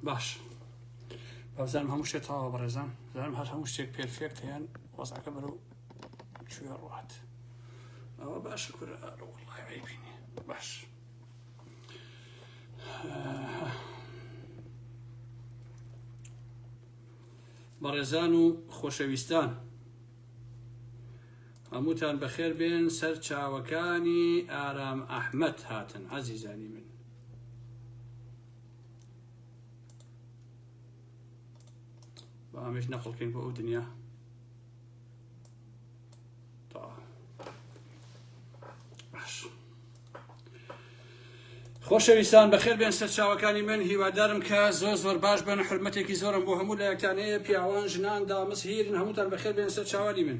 باش بەزانم هەموو شتێ تەواوە بەڕێزان زانم هەر هەموو شتێک پێرفێکت یان وەزعەکە بەرەو کوێ ڕات ئەوە باش کورە ئەڕوڵی بینی باش بەڕێزان و خۆشەویستان هەمووتان بەخێر بێن سەر چاوەکانی ئارام ئەحمد هاتن عزیزانی من با ئەمەش نەخڵکەین بۆ ئەو دنیا خۆشەویستان بەخێر بێن سەرچاوەکانی من هیوادارم کە زۆر زۆر باش بن حرمەتێکی زۆرم بۆ هەموو لایەکانەیە پیاوان ژنان دامس هیرن هەمووتان بەخێر بێن سەرچاوانی من.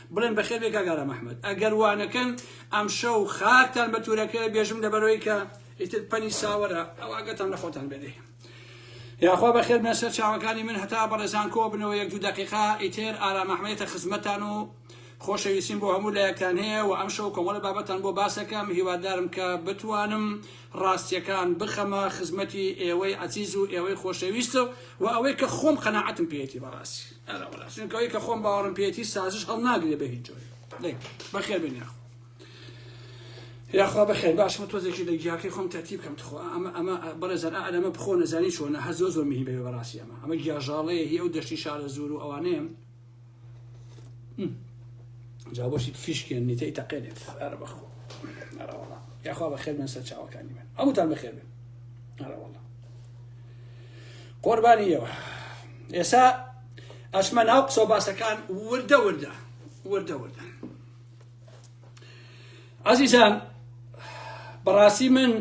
بڵێن بەخێربێی کاک ئارام ئەحمەد ئەگەر وانەکەن ئەمشەو خاکتان بە تورەکەوێ بێژم لەبەرەوەی کە ئیتر پەنی ساوەرە ئەواگەتان لە خۆتان بێدێ یاخوا بەخێر بێن سەر چاوەکانی من هەتا بەڕێزان کۆ بنەوە یەک دوو دقیقا ئیتر ئارام ئەحمەدێتە خزمەتان و خۆشەویستیم بۆ هەموو لایەکتان هەیە و ئەم شەو کۆمەڵە بابەتان بۆ باسەکەم هیوادارم کە بتوانم ڕاستیەکان بخەمە خزمەتی ئێوەی عزیز و ئێوەی خۆشەویستە و ئەوەی کە خۆم قەنەعەتم پێێتی بەڕاستی ئەرە وەلا چونکە ئەوەی کە خۆم باوەڕم پێیەتی سازش هەڵناگرێ بە هیچ جۆرێ دەی بەخێر بێن یاخوا یاخوا بەخێر باش من تۆزێکی لە گیاکەی خۆم تەرتیب کەم تخوا ئەمە ئەمە بەڕێزان ئا ئەرەمە بخۆ نەزانی چۆنە هەر زۆر زۆر مهی بێ بەڕاستی ئەمە ئەمە گیاژاڵەیە هی ئەو دەشتی شارە زور و ئەوانەیە جا بۆشی فیشکێن نیتەی تەقێنێت ئەرە بەخۆ ئەرە وەڵا یاخوا بەخێر بێن سەر چاوەکانی من هەمووتان بەخێر بێن ئەرە وەڵا قوربانی ئێوە ئێسا ئەچمە ناو قسە و باسەکان وردە وردە وردە وردە عزیزان بەڕاستی من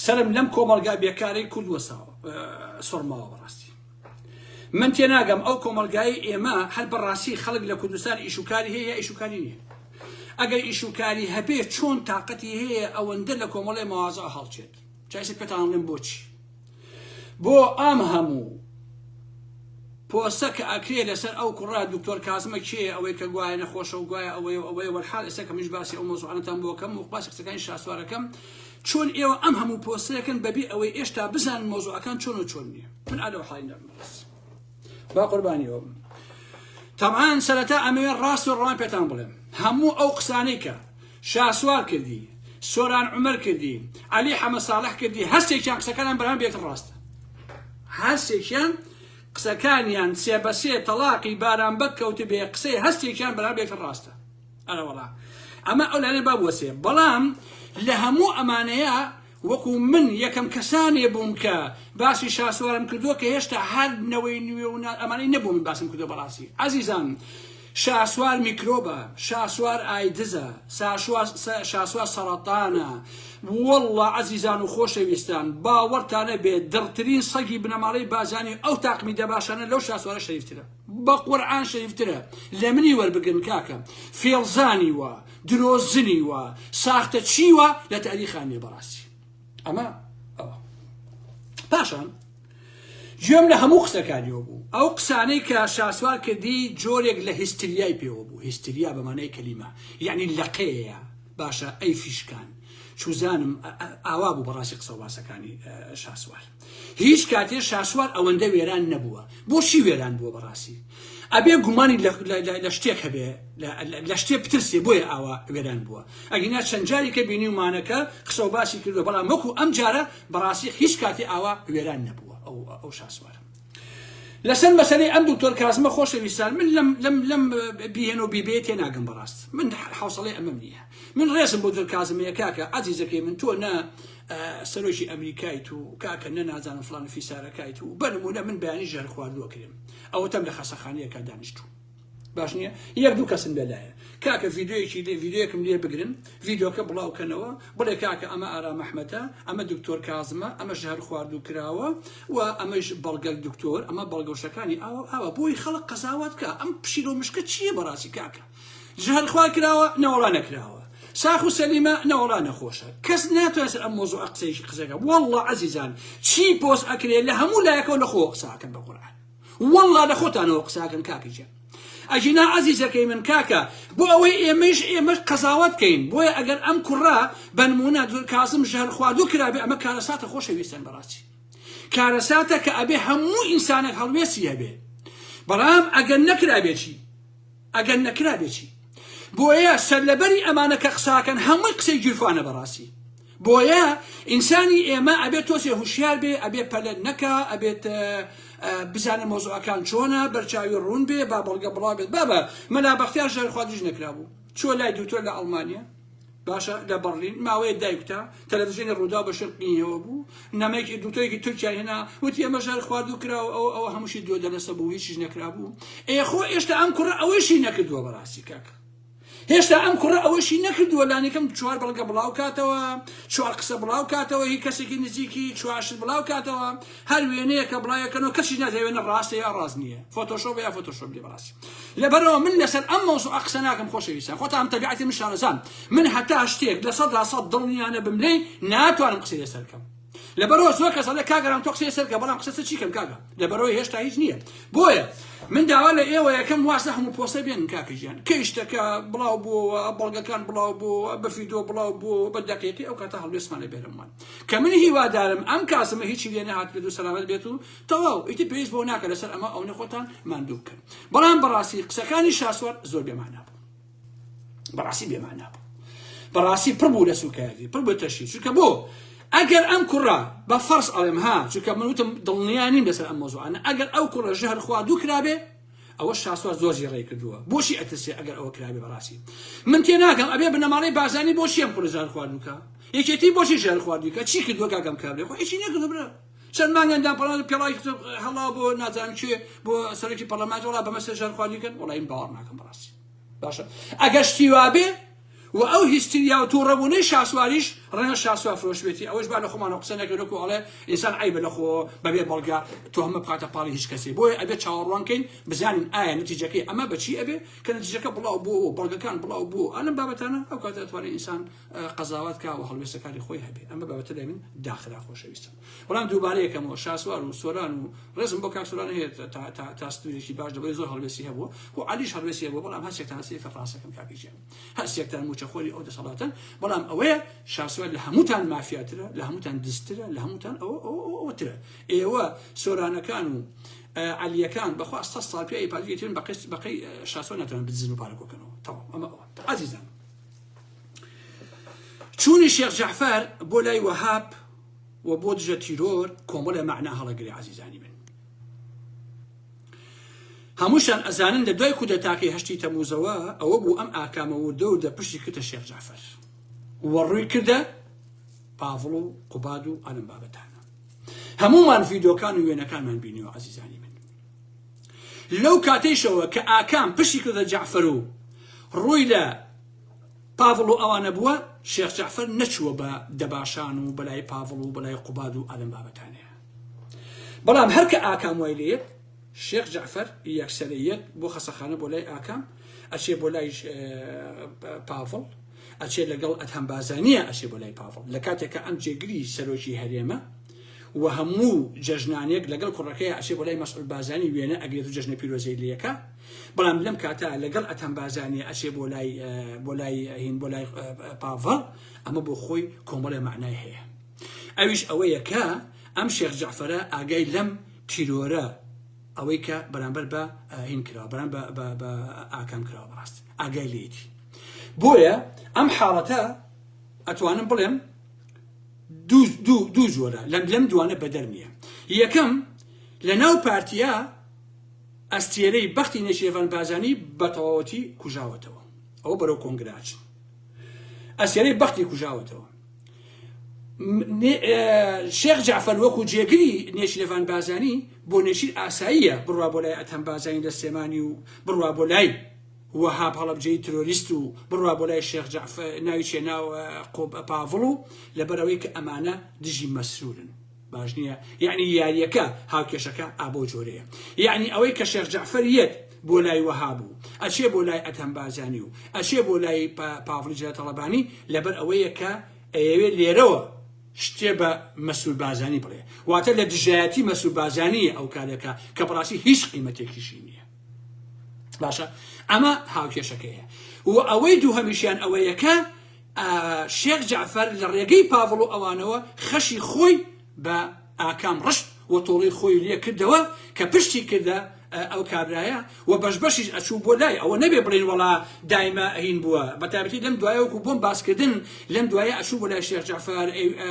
سرم لەم کۆمەلگا بێکارەی کورد وەساوە سڕماوە بەڕاستی من تێناگەم ئەو کۆمەلگای ئێمە هەر بەڕاستی خەڵک لە کوردستان ئیشوکاری هەیە ئیشوکاری نیە ئەگەر ئیشوکاری هەبێ چۆن تااقەتی هەیە ئەوەندە لە کۆمەڵی ماوازە هەڵچێت چایسە پێتانڵێن بۆچی بۆ ئەم هەموو پۆستە کە ئەکرێ لەسەر ئەو کوڕە دکتۆر کازمە کێیە ئەوەی کە گوایە نەخۆشە و گوایە ئەوەیە و ئەوەیە وەلحال ئێستا کە منیش باسی ئەو مەوزوعانەتان بۆ کەم و باسی قسەکانی شاسوارەکەم چۆن ئێوە ئەم هەموو پۆستەکەن بەبێ ئەوەی ئێشتا بزانن مەوزوعەکان چۆن و چۆن نییە من ئالەو حاڵی نەبم بەس با قوربانی ئەو تەبعاان سەرەتا ئەمەوێ ڕاست و ڕوان پێتان بڵێم هەموو ئەو قسانەی کە شاسوار کردی سۆران عمر کردی علی حەمە ساڵح کردی هەستێکیان قسەکانیان بەرام بێت ڕاستە هەستێکیان قسەکانیان سێ بە سێ تەلاقی باران بەک کەوت بێ قسەی هەستێکیان بەرام بێت ڕاستە ئەرەوەڵا ئەمە ئەو لەێ بابوەسێ بەڵام لە هەموو ئەمانەیە وەکو من یەکەم کەسانێ بووم کە باسی شاسوارم کردووە کە هێشتا هەر نەوەی نوێ و ئەمانەی نەبوو من باسم کردووە بەڕاستی ئازیزان شاسوار میکرۆبە شاسوار ئایدزە شاسوار سەرەتانە واللە ئازیزان و خۆشەویستان باوەڕتانە بێ دڕترین سەگی بنەماڵەی بازانی ئەو تاقمی دەباشانە لەو شاسوارە شەریفترە بە قورعان شەریفترە لە منی وەربگرن کاکە فێڵزانی وە درۆزنی و ساختە چی و لە تاریخا نیە بەڕاستی ئەمە ئەوە پاشان گوێم لە هەموو قسەکانیەوە بوو ئەو قسانەی کە شاسوار کردی جۆرێک لە هیستریای پێوە بوو هیستریا بەمانای کەلیمە یعنی لەقەیە باشە ئەی فیشکان چوزانم ئاوا بوو بەڕاستی قسە باسەکانی شاسوار هیچ کاتێ شاسوار ئەوەندە وێران نەبووە بۆ چی وێران بووە بەڕاستی ئەبێ گومانی لە شتێک هەبێ لە شتێ بترسێ بۆیە ئاوا وێران بووە ئەگینا چەند جارێکە بینیومانەکە قسە و باسی کردو بەڵام وەکو ئەم جارە بەڕاستی هیچ کاتی ئاوا وێران نەبووە ئەو ئەو شاسوارە لەسەر مەسەی ئەم دوکتۆر کازمە خۆشەویستان من لەم لەم لەم بیهێن و بیبێ تێ ناگەم بەڕاست من حوسڵی ئەمەم نییە من ڕێزم بۆ دکازمەیە کاکە عزیزەکەی من تۆ نە سەرۆکی ئەمریکایت و کاکە نە نازانم فلان فیسارەکایت و بەنمونە من بەیانی ژەر خواردووە کرێم ئەوەتەم لە خەسەخانەیەکە دانیشتوو باش نییە یەک دوو کەسم لەلایە کاکە ڤیددیوەکی لێ ڤیددیوەکم لێ بگرن ڤیددیوکە بڵاوکەنەوە بڵێ کاکە ئەمە ئارا مححمەتە ئەمە دکتۆر کازمە ئەمە ژەر خواردوو کراوە و ئەمەش بەڵگەل دکتۆر ئەمە بەڵگەوشەکانی ئاوە ئاوە بۆی خەڵک قەزاوات بکە ئەم پشیلۆ مشکە چییە بەڕاستی کاکە جهل خوا کراوە نەوەڵا نەکراوە ساخ و سەلیمە نەوەڵا نەخۆشە کەس ناتوانێت سەر ئەم مۆزوع قسەیش قسەکە والله عزیزان چی پۆست ئەکرێت لە هەموو لایەکەوە لە خۆ قساکەن بە قورعان والله لە خۆتانەوە قساکەن کاکی جێن ئەجینا عزیزەکەی من کاکە بۆ ئەوەی ئێمەش ئێمەش قەزاوت کەین بۆیە ئەگەر ئەم کوڕە بەنمونە دور کازم ژەهر خواردو کرابێ ئەمە کارەساتە خۆشەویستن بەڕاستی کارەساتە کە ئەبێ هەموو ئینسانێک هەڵوێستی هەبێ بەڵام ئەگەر نەکرابێتی ئەگەر نەکرابێ چی؟ بۆیە سەرلەبەری ئەمانە کە قساکەن هەمووی قسەی گیرفانە بەڕاستی بۆیە ئینسانی ئێمە ئەبێت تۆزێ هوشیار بێ ئەبێ پەلەت نەکا ئەبێت بزانە مۆزەکان چۆنە بەرچاوی ڕوون بێ با بەڵگە بڵاو بێت بابە مەلا بەختیار ژەرخوادیش نەکرابوو چۆ لای دوتۆر لە ئەڵمانیا باشە لە بەڕلین ماوەیەک دایکوتا تەلەڤزیۆنی ڕووداو بە شرت نیەوە بوو نەمەیەکی دوکتۆرێکی تورکیای هێنا وتی ئەمە ژار خواردو کراوە ئەو ئەوە هەمووشی دوێ دەلەسە بوو هیچیش نەکرابوو ئێخۆ ئێشتا ئەم کوڕە ئەوەیشی نەکردووە بەڕاستی کاک هێشتا ئەم کوڕە ئەوەشی نەکردووە لانیکەم چوار بەڵگە بڵاو کاتەوە چوار قسە بڵاو کاتەوە هی کەسێکی نزیکی چوارشت بڵاو کاتەوە هەر وێنەیەکە بڵاوێکەنەوە کەسیش نازانێ وێنە ڕاستە یا ڕاست نییە فۆتۆشۆپە یا فۆتۆشۆپ نییە بەڕاستی لەبەرەوە من لەسەر ئەم مەوزوعە قسە ناکەم خۆشەویستان خۆتان ئەم تەبیعەتی من شارەزان من هەتا شتێک لە سەدا سەد دڵنیا نەبم لێی ناتوانم قسەی لەسەر بکەم لەبەرەوە زۆر کەس دەڵێ کاگەران تۆ قسەی لەسەر بکە بەڵام قسە چی کەم کاگە لەبەرەوە هێشتا هیچ نییە بۆیە من داوا لە ئێوە یەکەم واسە هەموو پۆستە بێن کاکە ژیان کەی شتەکە بڵاو بووەوە بەڵگەکان بڵاو بووەوە بە فیدۆ بڵاو بووەوە بە دەقیقی ئەو کاتە هەڵوێستمان لە بێرەمان کە من هیوادارم ئەم کاسمە هیچی لێ نەهات بێت و سەلامەت بێت و تەواو ئیتر پێویست بەوە ناکە لەسەر ئەمە ئەونە خۆتان ماندوو بکەن بەڵام بەڕاستی قسەکانی شاسوار زۆر بێمانا بوو بەڕاستی بێمانا بوو بەڕاستی پڕ بوو لە سوکایەتی پڕ بە تەشی چونکە بۆ ئەگەر ئەم کوڕە بە فەرس ئەڵێم ها چونکە من وتم دڵنیا نیم لەسەر ئەم مۆزوعانە ئەگەر ئەو کوڕە ژەهر خوا دوو کرابێ ئەوە شاسوار زۆر زێڕەی کردووە بۆچی ئەترسێ ئەگەر ئەوە کرابێ بەڕاستی من تێ ناگەم ئەبێ بنەماڵەی بازانی بۆچی ئەم کوڕی ژان خواردن بکە یەکێتی بۆچی ژان خواردی کە چی کردووە کاکەم کابرێ خۆ هیچی نەکردو برا چەند مانگەندان پەڵا پێڵای هەڵا بۆ نازان کوێ بۆ سەرکی پەڵەمات وڵا بەمەسە ژان خواردی کەن وڵایم باوەڕ ناکەم بەڕاستی باشە ئەگەر شتی وابێ وە ئەو هیستریاو توڕەبونەی شاسواریش ڕەنگە شاسوار فرۆش بێتی ئەوەش با لەخۆمانەوە قسە نەکەین وەکو ئەڵێ ئینسان عەیبە لەخۆوە بەبێ بەڵگە تۆهمە بخاتە پاڵی هیچ کەسێ بۆیە ئەبێ چاوەڕوان کەین بزانین ئایا نەتیجەکەی ئەمە بەچی ئەبێ کە نەتیجەکە بڵاو بوەوە و بەڵگەکان بڵاو بوەوە ئالەم بابەتانە ئەو کاتە ئەتوانێ ئینسان قەزاوەت کا وە هەڵوێستەکانی خۆی هەبێ ئەمە بابەتە لای من داخرا خۆشەویستان. بەڵام دووبارە یەکەمەوە شاسوار و سۆران و ڕێزم بۆ کاک سۆران هەیە تا ستوریشی باش دەبێت زۆر هەڵوێستی هەبوو و علیش هەڵوێستی هەبوو بەڵام هەرچێکتان سێ کە ڕاستەکەم کاکی ژیان هەرچێکتان موچەخۆری ئەو دەسەڵاتن بەڵام ئەوەیە شاسوار لە هەمووتان مافیاترە لە هەمووتان دزترە لە هەمووتان ئەوترە ئێوە سۆرانەکان و علیەکان بەخوا سە ساڵ پێ پاگەیتن بە قست بەقی شاسۆ ناتوان بزن و پارەکۆکەنەوە تەواو ئەمە ئەوە عزیزان چوونی شێخ جعفر بۆ لای وەهاب و بۆ دژە تیرۆر کۆمەڵێ مەعنا هەڵەگرێ عەزیزانی من هەمووشان ئەزانن لە دوای کودەتاکەی هەشتی تەموزەوە ئەوە بوو ئەم ئاکامە وردە وردە پشتی کردە شێخ جعفەر وەڕووی کردە پاڤڵ و قوباد و ئەلم بابەتانە هەمومان ڤیدۆکان و وێنەکانمان بینیوە عزیزانی من لەو کاتەیشەوە کە ئاکام پشتی کردە جعفەر و ڕووی لە پاڤڵ و ئەوانە بووە، شێخ جەعفەر نەچووە بە دەباشان و بەلای پاڤڵ و بەلای قوباد و ئالەم بابەتانەیە. بەڵام هەر کە ئاکام وای لێیەت شێخ جەعفەر یەکسەرە یەت بۆ خەسەخانە بۆ لای ئاکام ئەچێ بۆ لای پاڤڵ ئەچێ لەگەڵ ئەدهەم بازانیە ئەچێ بۆ لای پاڤڵ لە کاتێک کە ئەم جێگری سەرۆکی هەرێمە و هەموو جەژنانێک لەگەڵ کوڕەکەی ئەچێ بۆ لای مەسعود بازانی وێنە ئەگرێت و جەژنە پیرۆزەی لێکە. بەڵام لەم کاتە لەگەڵ ئەتەم بارزانیە ئەچێ بۆ لای بۆ لای هین بۆ لای پاڤڵ ئەمە بۆ خۆی کۆمەڵێ معنای هەیە ئەویش ئەوەیە کە ئەم شێخ جعفرە ئاگای لەم تیرۆرە ئەوەی کە بەرامبەر بە هین کرا بەرام بە ئاکام کراوە بەڕاست ئاگای لێتی بۆیە ئەم حاڵەتە ئەتوانم بڵێم دوو جۆرە لەم لەم دوانە بەدەر نییە یەکەم لە ناو پارتیا ئەستێرەی بەختی نێچیرەڤان بارزانی بە تەواوەتی کوژاوەتەوە ئەوە بەرەو کۆنگرە ئەچن ئەستێرەی بەختی کوژاوەتەوە شێخ جعفر وەکو جێگری نێچیرەڤان بارزانی بۆ نێچیر ئاساییە بڕوا بۆ لای ئەتەم بارزانی لە سلێمانی و بڕوا بۆ لای وەهاب هەڵەبجەی ترۆریست و بڕوا بۆ لای شێخ جعفر ناوی چێ ناو قۆب پاڤڵ و لەبەرەوەی کە ئەمانە دژی مەسرورن باش نیە یەعنی یاریەکە هاوکێشەکە ئا بەو جۆرەیە یەعنی ئەوەی کە شێخ جەعفەر یەت بۆ لای وەهاب و ئەچێ بۆ لای ئەدهەم بارزانی و ئەچێ بۆ لای پاڤڵی جەلە تەڵەبانی لەبەر ئەوەیە کە ئەیەوێ لێرەوە شتێ بە مەسرور بارزانی بڵێ واتە لە دژایەتی مەسرور بارزانیە ئەو کارەکە کە بەڕاستی هیچ قیمەتێکیشی نییە باشە ئەمە هاوکێشەکەیە و ئەوەی دوو هەمیشیان ئەوەیەکە شێخ جەعفەر لە ڕێگەی پاڤڵ و ئەوانەوە خەشی خۆی بە ئاکام ڕشت و تۆڵەی خۆی لێ کردەوە کە پشتی کردە ئەو کابرایە و بەش بەشیش ئەچوو بۆ لای ئەوە نەبێ بڵین وەڵا دایمە ئەهین بووە بە تایبەتی لەم دوایە وەکو بۆم باسکردن لەم دوایە ئەچوو بۆ لای شێخ جەعفەر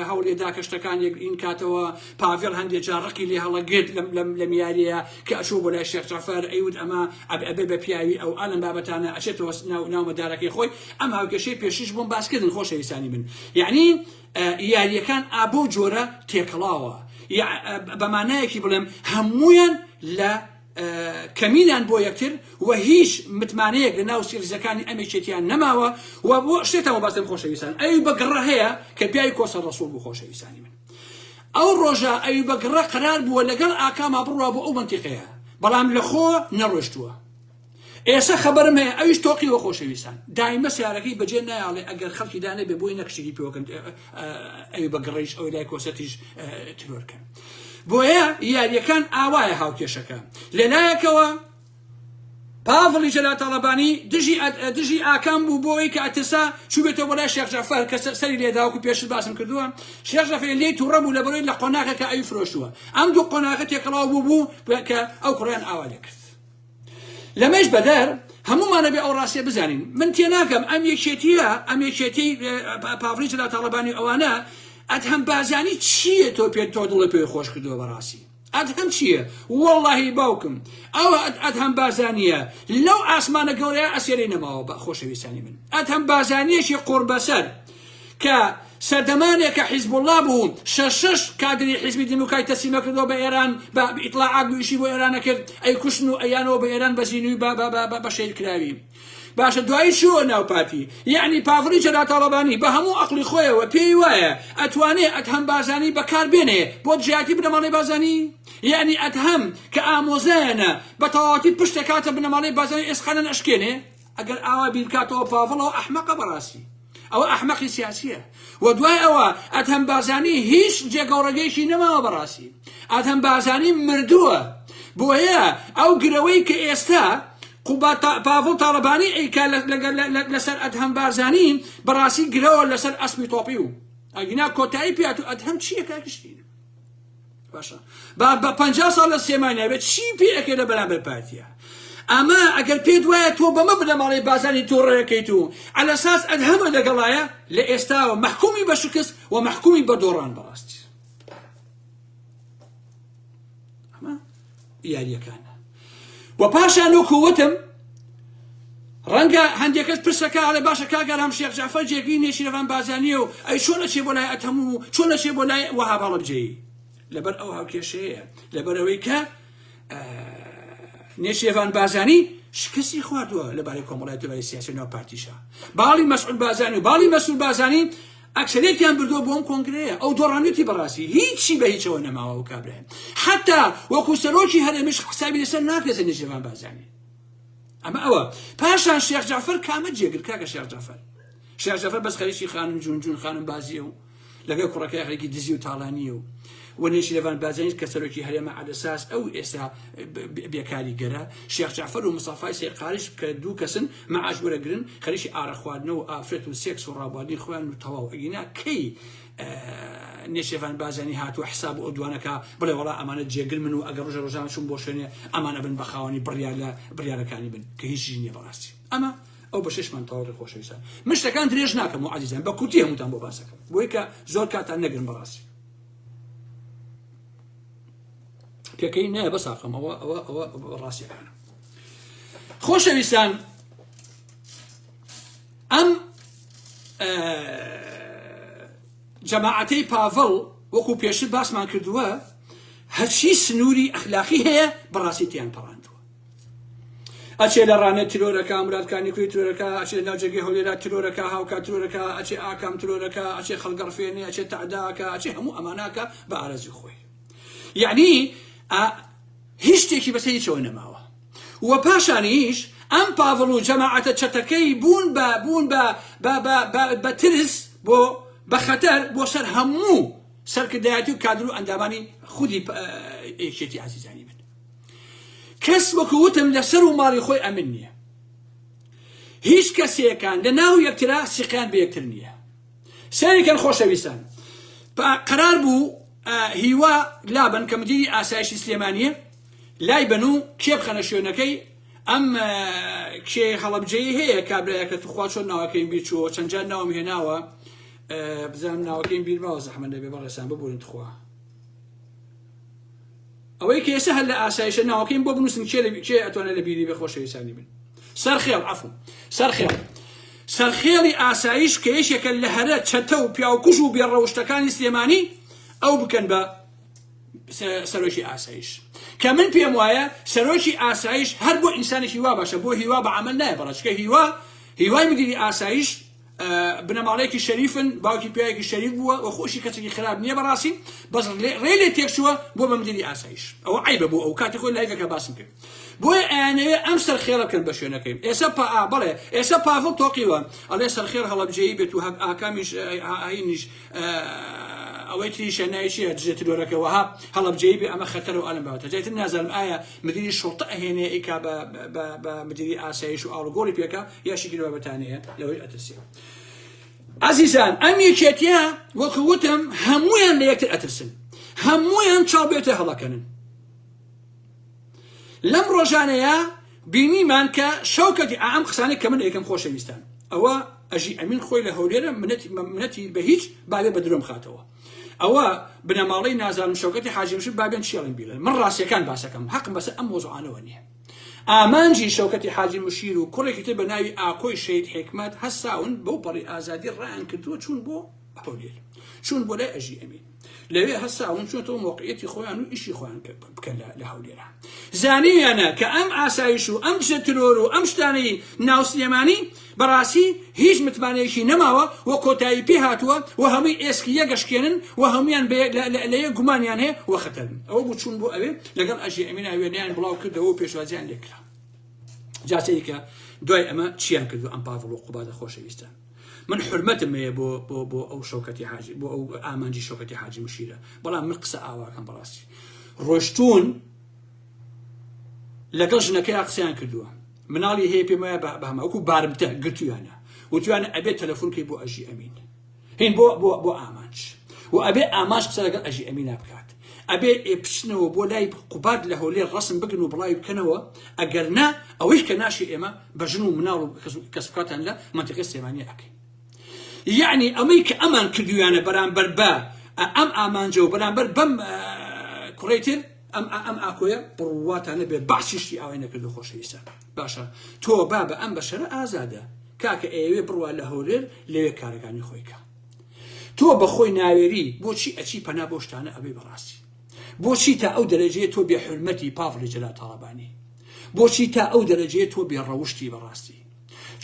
هەوڵێدا کە شتەکان یەک ئین کاتەوە پاڤڵ هەندێ جا ڕقی لێ هەڵەگرت لەم لەم یاریە کە ئەچوو بۆ لای شێخ جەعفەر ئەیوت ئەمە ئەبئ ئەبێ بە پیاوی ئەو ئا لەم بابەتانە ئەچێتەوە ناو ناو مەدارەکەی خۆی ئەم هاوکێشەی پێشیش بۆم باس کردن خۆشەویستانی من یەعنی ئە یاریەکان ئا بەو جۆرە تێکەڵاوە یە ئە بە مانایەکی بڵێم هەموویان لە ئە کەمینان بۆ یەکتر و هیچ متمانەیەک لە ناو سیڕیزەکانی ئەم یەکێتیان نەماوە و بۆ شتێتەوە بەستم خۆشەویستان ئەوی بە گڕە هەیە کە پیاوی کۆسە ڕەسووڵ بوو خۆشەویستانی من ئەو ڕۆژە ئەیوبەگ ڕە قەرار بووە لەگەڵ ئاکاما بڕوا بۆ ئەو مەنتیقەیە بەڵام لە خۆ نەڕۆشتووە ئێسە خەبەرم هەیە ئەویش تۆقی وە خۆشەویستان دایمە سیارەکەی بەجێ نایاڵێ ئەگەر خەڵکی دا نەبێ بۆی نەکشتێکی پێوەکەن ئەوی بە گڕیش ئەو لای کۆسەتیش ترۆرکەن بۆیە یاریەکان ئاوایە هاوکێشەکە لەلایەکەوە پاڤڵی جەلال تاڵەبانی دژی ئاکام بوو بۆ ئەوەی کە ئەترسا چووبێتەوە بۆ لای شێخ جەعفەر کە سەری لێ دا وەکوو پێشتر باسم کردووە شێخ جەعفەر لێی تووڕە بوو لەبەرەی لە قۆناغێکە ئەوی فرۆشتووە ئەم دوو قۆناغە تێکەڵاو بوو بوو کە ئەو کوڕیان ئاوا لێ کرد لەمەش بەدەر هەموومانە بێ ئەو ڕاستیە بزانین من تێناگەم ئەم یەکێتیە ئەم یەکێتی پاڤڵی جەلال تاڵەبانی ئەوانە ئەدهەم بازانی چییە تۆ پێ تۆ دڵی پێی خۆش کردووە بەڕاستی ئەدهەم چیە وەڵاهی باوکم ئەو ئەدهەم بارزانیە لەو ئاسمانە گەورەیە ئەسێرەی نەماوە بە خۆشەویستانی من ئەدهەم بارزانیەکی قوربەسەر کە سەردەمانێک کە حیزب الله بوو شەش شەش کادری حیزبی دیموکرای تەسلیمە کردەوە بە ئێران بە ئیطلاعات بویشی بۆ ئێرانە کرد ئەی کوشن و ئەیانەوە بە ئێران بە زینوی بە شەید کراوی باشە دوایی چی وە ناو پارتی یەعنی پافڕی چەدا تاڵەبانی بە هەموو ئەقڵی خۆیەوە پێی وایە ئەتوانێ ئەدهەم بارزانی بەکار بێنێ بۆ دژایەتی بنەماڵەی بارزانی یەعنی ئەدهەم کە ئامۆزایەنە بە تەواوەتی پشت دەکاتە بنەماڵەی بارزانی ئێسقانەن ئەشکێنێ ئەگەر ئاوا بیر بکاتەوە پاڤڵەوە ئەحمەقە بەڕاستی ئەوە ئەحمەقی سیاسیە و دوای ئەوە ئەدهەم بارزانی هیچ جێگەوڕەگەیەکی نەماوە بەڕاستی ئەدهەم بارزانی مردووە بۆیە ئەو گرەوەی کە ئێستا قوباد پاڤڵ تاڵەبانی ئەیکا لەسەر ئەدهەم بارزانی بەڕاستی گرەوە لەسەر ئەسپی تۆپی و ئەگینا کۆتایی پێات و ئەدهەم چییە کاکشتین باشە با بە پ ساڵ لە سێمای ناوێت چی پێ ئەکێ لە بەرامبەر پارتیە ئەمە ئەگەر پێت وایە تۆ بەمە بنەماڵی بازانی تۆ ڕێەکەیت و ئەلەساس ئەدهەمە لەگەڵایە لە ئێستاوە محکومی بە شکست و محکومی بە دۆڕان بەڕاستی یاریەکانە و پاشان وەکو وتم ڕەنگە هەندێکەش پرسەکە ئەڵێ باشە کاگەرام شێخ جعفر جێگری نێشیرەوان بازانیە و ئەی چۆن لەچێ بۆ لای ئەتەم و چۆن لەچێ بۆ لای وەها هەڵبجەی لەبەر ئەو هاوکێشەیە لەبەرەوەی کە نێشێوان بازانی شکستی خواردووە لەبارەی کۆمەڵای دوای سیاسی ناو پارتیشە باڵی مەسعود بازانی و باڵی مەسول بازانی ئەکسەرێتیان بردوە بۆ ئەم کۆنگرەیە ئەو دۆڕانوتی بەڕاستی هیچی بە هیچەوە نەماوە و کابرایم حتا وەکو سەرۆکی هەرێمش حسابی لەسەر ناکرێت سەر نێچیرڤان بارزانی ئەمە ئەوە پاشان شێخ جعفر کامە جێگر کاکە شێخ جعفر شێخ جعفر بەس خەریکی خانم جون جون خانم بازیە و لەگەڵ کوڕەکەی خەریکی دزی و تاڵانیە و وە نێچیرەڤان بازێنیس کە سەرۆکی هەرێمە عەلەساس ئەو ئێستا بێکاریگەرە، شێخ جەعفەر و مستەفای سەید قاریش کە دوو کەسن مەعاش وەرەگرن خەریکی ئارەق خواردنە و ئافرەت و سێکس و ڕابواردنی خۆیان و تەواو ئەگینا کەی نێچیرەڤان بازێنی هاتووە حساب و ئەودوان ئەکا بڵێ وەڵا ئەمانە جێگرمن و ئەگەر ڕۆژێ ڕۆژان چووم بۆ شوێنێ ئەمان ئەبن بە خاوەنی بڕیار لە بڕیارەکانی من کە هیچیشی نیە بەڕاستی ئەمە ئەو بەشێشمان تەواوکرد خۆشەویستان من شتەکان درێژ ناکەم و عەزیزان بە کورتی هەمووتان بۆ باس ئەکەم بۆیکە زۆر کاتتان نەگرم بەڕاستی پێکەی نایە بە ساقەمەوە ئەوە ئەوە ڕاستیەکانە خۆشەویستان ئەم جەماعەتەی پاڤڵ وەکو پێشتر باسمان کردووە هەرچی سنووری ئەخلاقی هەیە بەڕاستی تیان پەڕاندووە ئەچێ لە ڕانێ ترۆرەکە مراد کانیکوی ترۆرەکە ئەچێ ناو جێگەی هەولێرا ترۆرەکە هاوکا ترۆرەکە ئەچێ ئاکام ترۆرەکە ئەچێ خەڵگەڕفێنێ ئەچێ تەعداکە ئەچێ هەموو ئەماناکە بە ئارەزوی خۆی یعنی هیچ شتێکی بەسە هیچەوە نەماوە و پاشانیش ئەم پاڤڵ و جەماعەتە چەتەکەی بوون بە بوون بە بە ترس بۆ بە خەتەر بۆ سەر هەموو سەرکردایەتی و کادر و ئەندامانی خودی یەکێتی عزیزانی من کەس وەکو وتم لەسەر و ماڵی خۆی ئەمن نیە هیچ کەسێکان لە ناو یەکترا سیقیان بە یەکتر نیە سەیرکەن خۆشەویستان قەرار بوو هیوا لابن کە مدیری ئاسایشی سلێمانیە لای بن و کێ بخەنە شوێنەکەی ئەم کێ هەڵبجەی هەیە کابراەکە توخوا چۆن ناوەکەیم بیر چووە چەندجار ناوم هێناوە بزانم ناوەکەیم بیرماوە زەحمە دەبێ بەڕێسان ببوورن تخوا ئەوەی کە ئێستا هەر لە ئاسایشە ناوەکەیم بۆ بنووسن کێ لە- کێ ئەتوانێت لە بیری بێ خۆشەویستانی من سەرخێڵ عەفو سەرخێڵ سەرخێڵی ئاسایش کە یەکێکە لە هەرە چەتە و پیاوکوژ و بێڕەوشتەکانی سلێمانی ئەو بکەن بە س- سەرۆکی ئاسایش کە من پێم وایە سەرۆکی ئاسایش هەر بۆ ئینسانێکی وا باشە بۆ هیوا بە عەمەل نایە بەڕە چکە هیوا هیوای مدیری ئاسایش بنەماڵەیەکی شەریفن باوکی پیاوێکی شەریف بووە وە خۆشی کەسێکی خراپ نییە بەڕاستی بەس ڕێ لێ تێکچووە بۆ بە مدیری ئاسایش ئەوە عیبە بۆ ئەو کاتی خۆی لایڤەکە باسم کرد بۆیە ئەیانەوێ ئەم سەرخێڵە بکەن بە شوێنەکەی ئێسە پا بڵێ ئێسە پاڤڵ تۆقیوە ئەڵێ سەرخێڵ هەڵەبجەیی بێت و هەک ئاکامیش ئاینیش ئەوەی تریشە نایشیە دژە ترۆرەکە وەها هەڵەبجەیی بێ ئەمە خەتەر و ئەلم باوتە جایتر نازانم ئایا مدیری شوڕتە ئەهێنێ ئیکا بە بە بە مدیری ئاسایش و ئاڵوگۆڕی پێکا یاشی گروا بەتانەیە لەوەی ئەترسێ ئازیزان ئەم یەکێتیە وەکو وتم هەمویان لە یەکتر ئەترسن هەمویان چاو بێتە هەڵەکەنن لەم ڕۆژانەیە بینیمان کە شەوکەتی ئام قسانێک کە من ئێکم خۆشەویستان ئەوە ئەژی ئەمین خۆی لە هەولێرە منەتی منەتی بە هیچ باێ بە درۆم خاتەوە ئەوە بنەماڵەی نازانم شەوکەتی حاجی مشک با بێن چێڵین بیڵێن من ڕاستیەکان باسەکەم حەقم بەسە ئەم مۆزوعانەوە نییە ئامانجی شەوکەتی حاجی مشیر و کوڕێکی تر بە ناوی ئاکۆی شەید حکمت هەستاون بەو پەڕی ئازادی ڕایان کردووە چوون بۆ هەولێر چوون بۆ لای ئەژی ئەمین لەوێ هەستاون چۆنەوە مۆقعەتی خۆیان و ئیشی خۆیان بکەن لە هەولێرە زانیانە کە ئەم ئاسایش و ئەم شە ترۆر و ئەم شتانەی ناوسلێمانی بەڕاستی هیچ متمانەیەکی نەماوە و کۆتایی پێ هاتووە و هەمووی ئێسکی یەک ئەشکێنن و هەموویان بە لە یەک گومانیان هەیە و خەتەرن. ئەوە بوو چوون بۆ ئەوێ لەگەڵ ئەژی ئەمینا وێنەیان بڵاو کردەوە و پێشوازیان لێ کرا. جا سەیرکە دوای ئەمە چیان کردو ئەم پاڤڵ و قوبادە خۆشەویستان. من حورمەتم هەیە بۆ بۆ بۆ ئەو شەوکەتی حاجی بۆ ئەو ئامانجی شەوکەتی حاجی مشیرە بەڵام من قسە ئاواکەم بەڕاستی ڕۆشتون لەگەڵ ژنەکەیا قسەیان کردووە مناڵی هەیە پێم وایە بە بەهەمە وەکو بارمتە گرتویانە وتویانە ئەبێت تەلەفۆنکەی بۆ ئەژی ئەمین هین بۆ بۆ بۆ ئامانج و ئەبێ ئامانج قسە لەگەڵ ئەژی ئەمینا بکات ئەبێ ئێ بچنەوە بۆ لای قوباد لە هەولێر ڕسم بگن و بڵاوی بکەنەوە ئەگەر نا ئەوەی کە ناشی ئێمە بە ژن و مناڵ و کەسکاتان لە منتیقی سێمانی ئەکەین یعنی ئەمەی کە ئەمان کردویانە بەرامبەر بە ئەم ئامانجە و بەرامبەر بەم کوڕێتر ئەم ئا ئەم ئاکۆیە بڕواتان نەبێ بەعسی شتی ئاوای نەکردوە خۆشەویستان باشە تۆ بابە ئەم بەشەرە ئازادە کاکە ئەیەوێ بڕوا لە هەولێر لەوێ کارەکانی خۆی کا تۆ بەخۆی ناوێری بۆچی ئەچی پەنا بۆ شتانە ئەبەی بەڕاستی بۆچی تا ئەو دەرەجەیە تۆ بێ حورمەتی پاڤڵی جەلال تاڵەبانی بۆچی تا ئەو دەرەجەیە تۆ بێ ڕەوشتی بەڕاستی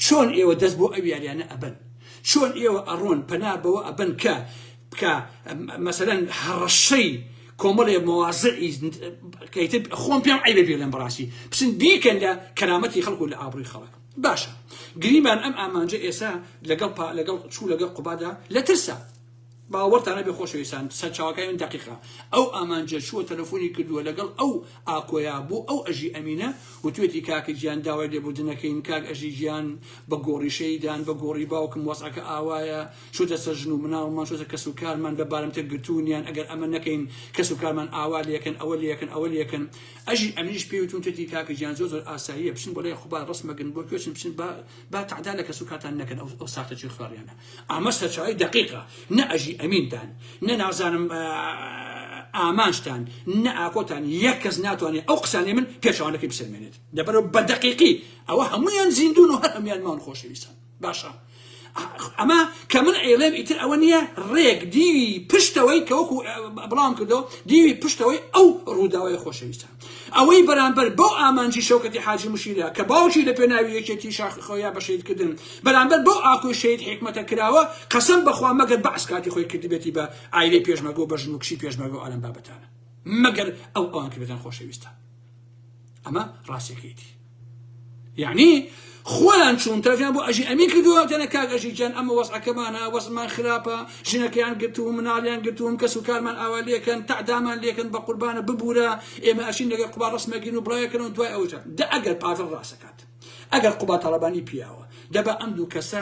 چۆن ئێوە دەست بۆ ئەو یاریانە ئەبەن چۆن ئێوە ئەڕۆن پەنا بەوە ئەبەن کە بکە مەسەەن هەڕەشەی کۆمەڵێ مۆازعی خۆم پێم ئەی بێلم بەڕاستی بچن بیکەن لە کەرامەتی خەڵکو لە ئابڕی خەڵک باشە گریمان ئەم ئامانجە ئێسا لەگەڵ لەگەڵ چوو لەگەڵ قوبادا لە ترسا باوەڕتان نەبێ خۆشەویستان سەرچاوەکانی من دەقیقە ئەو ئامانجە چووە تەلەفۆنی کردووە لەگەڵ ئەو ئاکۆیا بۆ ئەو ئەژی ئەمینە وتوێتی کاکە گیان داوای لێبوردن نەکەین کاک ئەژی گیان بە گۆڕی شەیدان بە گۆڕی باوکم وەزعەکە ئاوایە چۆتە سەر ژن و مناڵمان چۆتە کەس و کارمان بە بارمتە گرتوونیان ئەگەر ئەمە نەکەین کەس و کارمان ئاوا لێکەن ئەوە لێکەن ئەوە لێکەن ئەژی ئەمینیش پێی وتوون توێتی کاکە گیان زۆر زۆر ئاساییە بچن بۆ لای خوبا ڕەسمەگن بۆ کوێچن بچن با با تەعدا لە کەس و کارتان نەکەن ئەو ساختەچی خوێڕیانە ئەمە سەرچاوەی دەقیقە نە ئەژی ئەمینتان نە نازانم ئامانجتان نە ئاکۆتان یەک کەس ناتوانێت ئەو قسانەی من پێچوانەکەی بسەلمێنێت دەبەرەوە بە دەقیقی ئەوە هەمویان زیندون و هەر هەمویان ماون خۆشەویستان باشە ئەمە کە من ئەیڵێم ئیتر ئەوە نییە ڕێک دیوی پشتەوەی کە وەکو بڵاوم کردەوە دیوی پشتەوەی ئەو ڕووداوای خۆشەویستان ئەوەی بەرامبەر بەو ئامانجی شەوکەتی حاجی مشیرە کە باوکی لە پێناوی یەکێتی شاخی خۆیا بە شەهید کردن بەرامبەر بەو ئاکۆی شەهید حیکمەتە کراوە قەسەم بەخوا مەگەر بەعس کاتی خۆی کردبێتی بە عایلەی پێشمەرگە و بە ژن و کچی پێشمەرگە و ئەلەم بابەتانە مەگەر ئەو ئەوان کردبێتان خۆشەویستە ئەمە ڕاستیەکەیتی. یەعنی خۆیان چوون تەرجیان بۆ ئەژی ئەمین کردووە دەنە کاک ئەژی گیان ئەمە وەزعەکەمانە وەزمان خراپە ژنەکەیان گرتووم مناڵیان گرتووم کەس و کارمان ئاوا لێکەن تەعدامان لێکن بە قوربانە ببوورە ئێمە ئەشین لەگەر قوبا ڕسمەگین و بڵاوێکەن و دوای ئەوجا دە ئەگەر پاڤڵ ڕاستەکات ئەگەر قوبا تاڵەبانی پیاوە دەبا ئەم دوو کەسە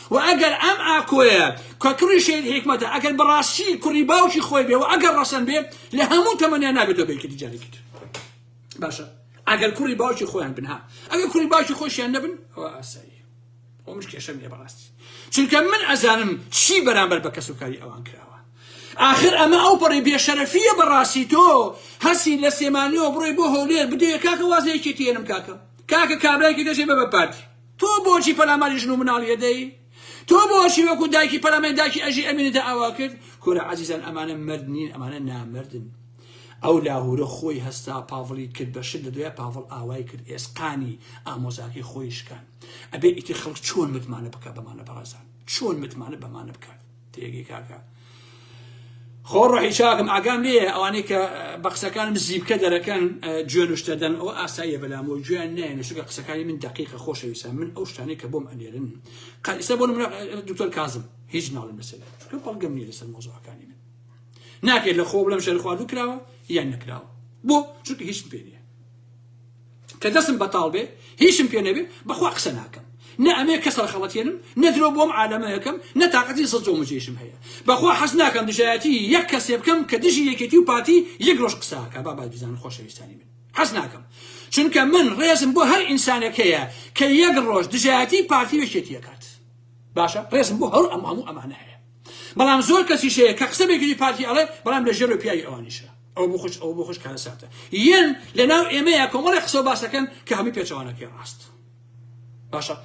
وە ئەگەر ئەم ئاکۆیە کە کوڕی شەهید حیکمەتە ئەگەر بەڕاستی کوڕی باوکی خۆی بێ و ئەگەر ڕەسەن بێ لە هەموو تەمەنیان نابێتەوە بە یەکێتی جارێکی تر باشە ئەگەر کوڕی باوکی خۆیان بن ها ئەگەر کوڕی باوکی خۆشیان نەبن ئەوە ئاسایی خۆ مش کێشەم نیە بەڕاستی چونکە من ئەزانم چی بەرامبەر بە کەسوکاری ئەوان کراوە آخر ئەمە ئەو پەڕی بێشەرەفیە بەڕاستی تۆ هەسی لە سێمانیەوە بڕۆی بۆ هەولێر بدەیە کاکە وازەیەکی تێنم کاکە کاکە کابرایکی دەژێ بە بە پارتی تۆ بۆچی پەلاماری ژن و مناڵی ئەدەی؟ تۆ بۆچی وەکو دایکی پەلاماری دایکی ئەژی ئەمینت ئاوا کرد؟ کورە ئازیزان ئەمانە مەرد نین ئەمانە نامەردن ئەو لاهورە خۆی هەستا پاڤڵی کرد بە شت لە دوای پاڤڵ ئاوای کرد ئێسقانی ئامۆزاکەی خۆی شکان ئەبێ ئیتر خەڵک چۆن متمانە بکا بەمانە بەڕێزان چۆن متمانە بەمانە بکات تێگەی کاکە خۆ ڕۆحی چاکم ئاگام لێ ئەوانەی کە بە قسەکانم زیبکە دەرەکەن جوێن شتە دەن ئەو ئاساییە بەلام و جوێن نێنە شوگە قسەکانی من دقیقە خۆشەویسە من ئەو شتانی کە بۆم ئەنێرن قەرسە بۆ دکتۆر کازم هیچ ناڵم لەسەر چکە بەڵگەم نیە لەسەر مۆزەکانی من ناکرێت لە خۆ بڵم شەر خواردو کراوە یان نەکراوە بۆ چونکە هیچ پێ نیە کە دەسم بەتاڵ بێ هیچم پێ نەبێ بەخوا قسە ناکەم نە ئەمێ کەس ڕخەڵەتێنم نە درۆ بۆم عالەمەکەم نە تاقەتی زە جۆ مجێشم هەیە بەخوا حەز ناکەم دژایەتی یەک کەسێ بکەم کە دژی یەکێتی و پارتی یەک ڕۆژ قساکە بابای بزان خۆشەویستانی من حەز ناکەم چونکە من ڕێزم بۆ هەر ئینسانێک هەیە کە یەک ڕۆژ دژایەتی پارتی یەکێتی یەکات باشە ڕێزم بۆ هەر ئەم هەموو ئەمانە هەیە بەڵام زۆر کەسیش هەیە کە قسە بەگوێی پارتی ئەڵێ بەڵام لە ژێرەوە پیاوی ئەوانیشە ئەو بۆ خوش ئەو بۆ خوش کارەساتە یەن لەناو ئێمەیە کۆمەڵی قسە و باسەکەن کە هەمووی پێچەوانەکەی ڕاست باشە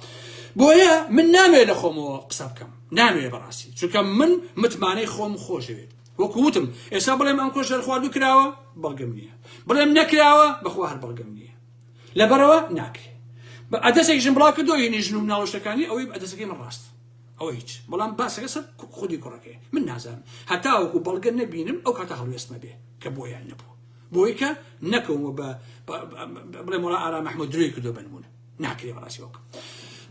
بۆیە من نامێ لە خۆمەوە قسە بکەم نامێ بەڕاستی چونکە من متمانەی خۆم خۆشەوێت وەکووتم ئێستا بڵێم ئەم کۆش دەرخوارد و کراوە بەڵگەم نییە بڵێم نەکراوە بەخوا هەر بەڵگەم نییە لەبەرەوە ناکرێت بە ئەدەسێکیشم بڵاو کردۆ یعنی ژن و مناڵۆشتەکانی ئەوەی ئەدەسەکەی من ڕاست ئەوە هیچ بەڵام باسەکە سەر خودی کوڕەکەی من نازانم هەتاوەکو بەڵگە نەبینم ئەو کاتە هەڵوێستمە بێ کە بۆیان نەبوو بۆی کە نەکەومە بە بڵێ مەڵا ئارا مححمود درۆی کردو بنمونە ناکرێ بەڕاستی وەکە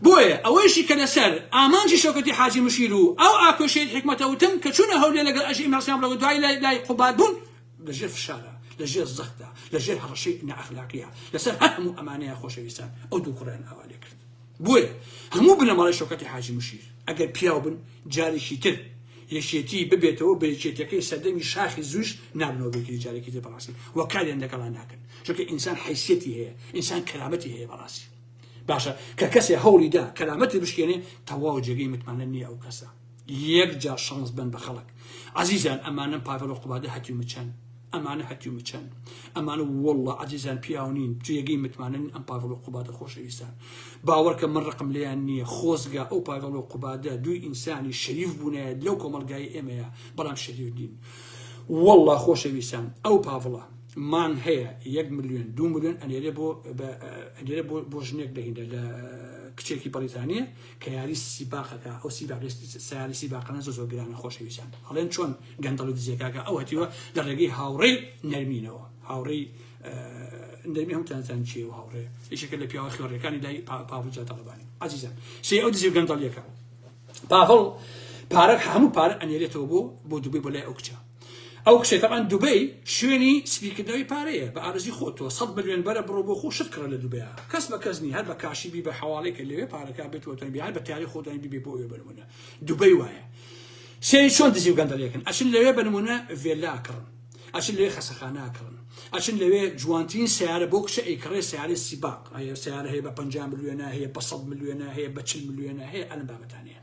بۆیە ئەوەیشی کە لەسەر ئامانجی شەکەتی حاجی مشیر و ئەو ئاکۆشێت حکمەتە وتم کە چونە هەولێ لەگەڵ ئەژی ماسیان بڵەوە دوای لای لای قوبات بوون لەژێر فشارە لەژێر زەختە لەژێر هەڕەشەی نەئەخلاقیە لەسەر هەر هەموو ئەمانەیە خۆشەویستان ئەو دوو کوڕیان ئاوا لێ کرد بۆیە هەموو بنەماڵەی شەوکەتی حاجی مشیر ئەگەر پیاو بن جارێکی تر یەکێتی ببێتەوە بە یەکێتیەکەی سەردەمی شاخی زوش نابنەوە بێکری جارێکی تر بەڕاستی وە کاریان لەگەڵا ناکەن چونکە ئینسان حیسیەتی هەیە ئینسان کەرامەتی هەیە بەڕاستی باشە کە کەسێ هەوڵی دا کەرامەتی بشکێنێ تەواو جێگەی متمانە نییە ئەو کەسە. یەک جار شانس بن بە خەڵک عەزیزان ئەمانەم پاڤێڵ و قوبادە هەتیو مچەن ئەمانە هەتیو مچەن ئەمانە وەڵڵا عەزیزان پیاو نین جێگەی متمانەن ئەم پاڤڵ و قوبادە خۆشەویستان باوەڕکە من ڕقم لێیان نییە خۆزگا ئەو پاڤڵ و قوبادە دووی ئینسانی شەریف بوونایە لەو کۆمەڵگای ئێمەیە بەڵام شەریف نین وەڵڵا خۆشەویستان ئەو پاڤڵە مان هەیە یەک ملیۆن دوو ملیۆن ئەنێرێ بۆ ئەنێرێ بۆ بۆ ژنێک دەهینە لە کچێکی بەڕیتانیە کە یاری سیباقەکە ئەو سیباقی سیاری سیباقانە زۆر زۆر گرانە خۆشەویستان ئەڵێن چۆن گەندەڵ و دزێکاکە ئەو هەتیوە لە ڕێگەی هاوڕێی نەرمینەوە هاوڕێی نەرمی هەم تانزان چی و هاوڕێ یشەکە لە پیاوە خێڕەکانی لای پاڤجا تەڵبانی عزیزان سێ ئەو دزی و گەندەڵیەکە پاڤڵ پارە هەموو پارە ئەنێرێتەوە بۆ بۆ دوبێ بۆ لای ئەو کچە ئەو کچەی تەبعەن دوبەی شوێنی سپی کردنەوەی پارەیە بە ئارەزوی خۆت تۆ سەد ملیۆن بەرە بڕۆ بۆ خۆ شت کڕە لە دوبەیا کەس بە کەس نی هەر بە کاشی بی بە حەواڵەی کە لەوێ پارەکە بێت وە تۆن بیان بە تاری خۆتان بی بۆ ئەوێ بنمونە دوبەی وایە سێری چۆن دزی و گەندەڵیەکەن ئەچن لەوێ بە نمونە ڤێلا کڕن ئەچن لەوێ خەسەخانە کڕن ئەچن لەوێ جوانترین سیارە بۆ کچە ئەی کڕێ سیارە سیباق ئەیە سیارە هەیە بە 50 ملیۆنە هەیە بە 100 ملیۆنە هەیە بە 40 ملیۆنە هەیە ئەلم بابەتانەیە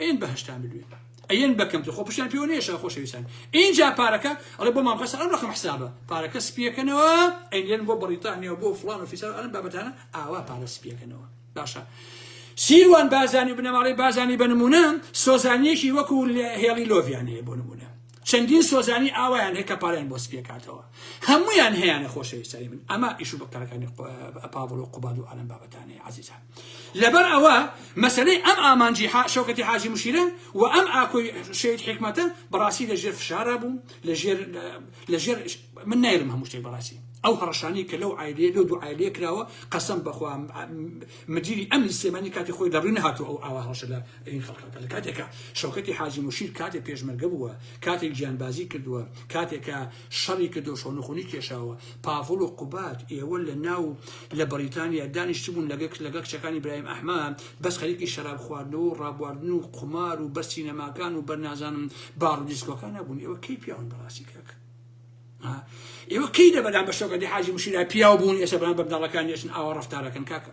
ئەیەن بەهەشتان بدوێن ئەیەن بەکەم خۆ پشتیان پێوە نێشە خۆشەویستان ئینجا پارەکە ئەڵێ بۆ مامخەسە ئەم ڕقم حسابە پارەکە سپیەکەنەوە ئەیلێن بۆ بەڕیتانیا بۆ فلان و فیسار ئەم بابەتانە ئاوا پارە سپیەکەنەوە باشە سیروان بازانی بنەماڵەی بازانی بە نمونە سۆزانیەکی وەکو هێڵی لۆڤیان هەیە بۆ نمونە چەندین سۆزانی ئاوایان هەیە کە پارەیان بۆ سپیەکاتەوە هەمویان هەیەە خۆشەویستانی من ئەمە ئیش و بەکارەکانی پاڤڵ و قوباد و ئالم بابەتانەیە عزیزان لەبەر ئەوە مەسلەی ئەم ئامانجی شەوکەتی حاجی مشیرن و ئەم ئاکۆی شەید حکمەتە بەڕاستی لە ژێر فشارە بووم لە ژێر من نایرم هەموو شتێک بەڕاستی ئەو هەڕشانی کە لەو عیلێ لەو دوو عیلێ کراوە قەسم بەخوا مدیری ئەمنی سێمانی کاتی خۆی دەڕوی نهاتوو ئەو ئاوا هەڵشە لە ترین خەڵکەکە لە کاتێکا شەوکەتی حاجی مشیر کاتێک پێشمەرگە بووە کاتێک گیانبازی کردووە کاتێکە شەڕی کە دۆشۆنخونی کێشاوە پاڤڵ و قوبات ئێوە لە ناو لە بەریتانیا دانیشتبوون لەگەک لەگە کچەکانی برایم ئەحمە بەس خەریکی شەراب خواردنەوە و ڕابواردن و قومار و بەر سینەماکان و بەرنازانم باڕ و دیسکۆکان نەبوون ئێوە کەی پیاون بەڕاستی کەک ئێوە کەی دە بەدان بە شەوکەتی حاجی مشیرا پیاو بوون ئێسە بەران بەبداڵەکان یەچن ئاوا ڕفتارەکەن کاکە